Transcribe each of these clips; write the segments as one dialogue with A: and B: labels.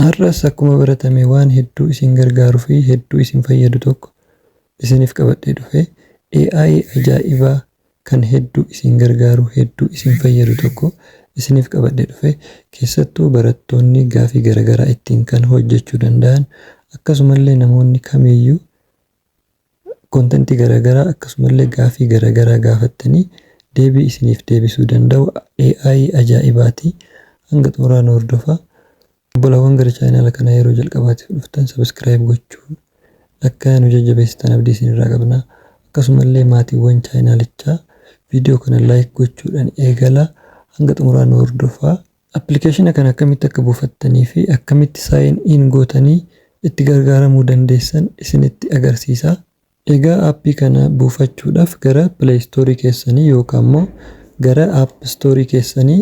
A: Har'as akkuma baratame waan hedduu isin gargaaru fi hedduu isin fayyadu tokko isiniif qabadhee dhufe, AI ajaa'ibaa kan hedduu isin gargaaru, hedduu isin fayyadu tokko isiniif qabadhee dhufe, keessattuu barattoonni gaafii garagaraa ittiin kan hojjechuu danda'an, akkasumallee namoonni kamiiyyuu Content garagaraa akkasumallee gaafii garagaraa gaafattanii deebii isiniif deebisuu danda'u AI ajaa'ibaati hanga xumuraa nu hordofaa Obbolawwan gara channel kanaa yeroo jalqabaatif dhuftan subscribe gochuun akka nu jajjabeessitan abdii isinirraa qabna akkasumallee maatiiwwan chaanalichaa video kana like gochuudhan eegalaa hanga xumuraa nu hordofaa Appilikeeshina kana akkamitti akka buufattanii fi akkamitti sign in gootanii itti gargaaramuu dandeessan isinitti agarsiisa. Egaa appii kana buufachuudhaaf gara play store keessanii yookaan immoo gara app store keessanii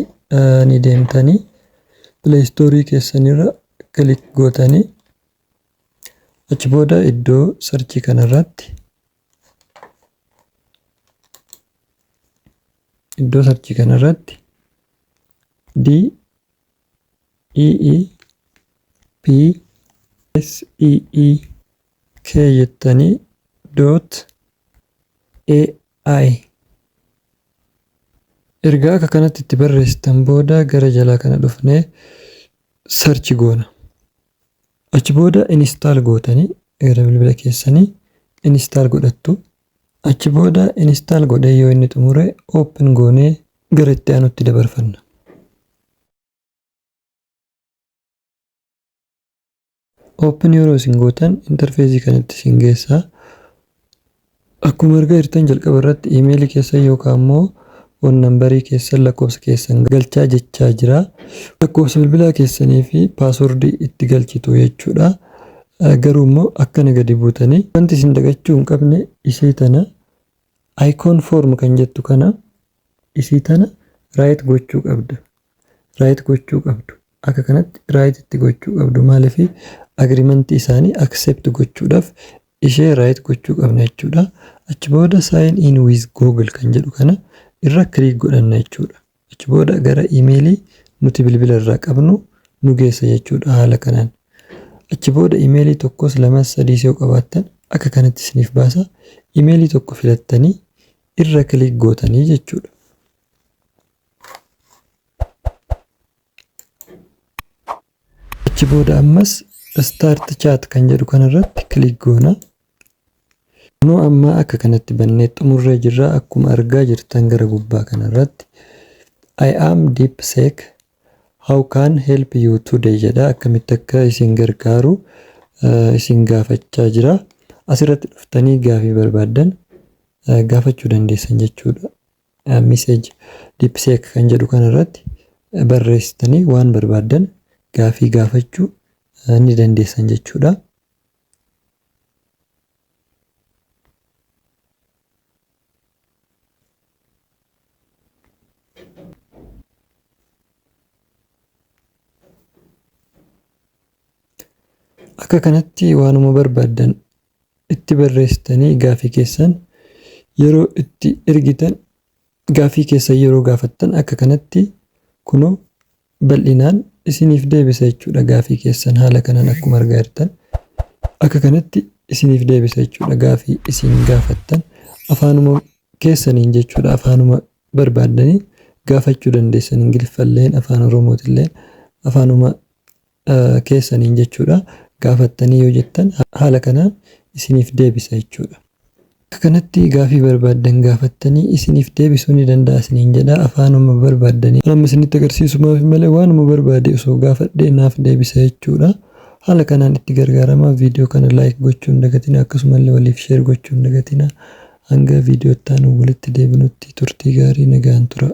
A: ni deemtanii play store keessanirra click gootanii achi booda iddoo search kanarratti iddoo sarchii kana irratti d e e p s e e k jettanii dot ai ergaa akka kanatti itti barreessitan booda gara jalaa kana dhufnee sarchi goona. Achi booda install gootanii gara bilbila keessanii install godhattu. Achi booda install godhee yoo inni xumure open goonee gara itti aanutti dabarfanna. Open yeroo isin gootan interfeezii kanatti isin geessa. Akkuma argaa jirtan jalqaba irratti email keessan yookaan immoo phone number keessan lakkoofsa keessan galchaa jechaa jira. Lakkoofsa bilbilaa keessanii fi password itti galchitu jechuudha. Garuu immoo akkana gadi buutanii wanti isin dagachuu hin qabne isii tana icon form kan jettu kana isii tana right gochuu qabda. right gochuu qabdu akka kanatti right itti gochuu qabdu maaliif agreement isaanii accept gochuudhaaf ishee right gochuu qabna jechuudha achi booda sign in with google kan jedhu kana irra click godhanna jechuudha achi booda gara imeelii nuti bilbila irraa qabnu nu geessa jechuudha haala kanaan achi booda imeelii tokkos lamas sadiis yoo qabaattan akka kanatti isiniif baasa imeelii tokko filattanii irra click gootanii jechuudha achi booda ammas start chat kan jedhu kanarratti click goona nu amma akka kanatti bannee xumurree jirra akkuma argaa jirtan gara gubbaa kanarratti I am DeepSeek how can help you today jedha akkamitti akka isin gargaaru uh, isin gaafachaa jira asirratti dhuftanii gaafii barbaaddan uh, gaafachuu dandeessan jechuudha message deepseek kan jedhu kana irratti barreessitanii waan barbaaddan gaafii gaafachuu ni dandeessan jechuudha. Akka kanatti waanuma barbaaddan itti barreessitanii gaaffii keessan yeroo itti ergitan gaaffii keessan yeroo gaafattan akka kanatti kunoo bal'inaan isiniif deebisa jechuudha gaaffii keessan haala kanaan akkuma argaa jirtan akka kanatti isiniif deebisa jechuudha gaaffii isin gaafattan afaanuma keessaniin jechuudha afaanuma barbaaddanii gaafachuu dandeessan ingiliffalleen afaan oromootilleen afaanuma keessaniin jechuudha gaafattanii yoo jettan haala kanaan isiniif deebisa jechuudha. Bakka kanatti gaafii barbaaddan gaafattanii isiniif deebisuu ni danda'a isiniin jedha afaanuma barbaaddaniin. Kan amma isinitti agarsiisumaafi malee waanuma barbaade osoo gaafadhee naaf deebisa jechuudha. Haala kanaan itti gargaaramaa viidiyoo kana like gochuu hin dagatinaa akkasumallee waliif share gochuu hin dagatinaa. Hanga viidiyoo itti aanuun walitti deebinutti turtii gaarii nagaan turaa.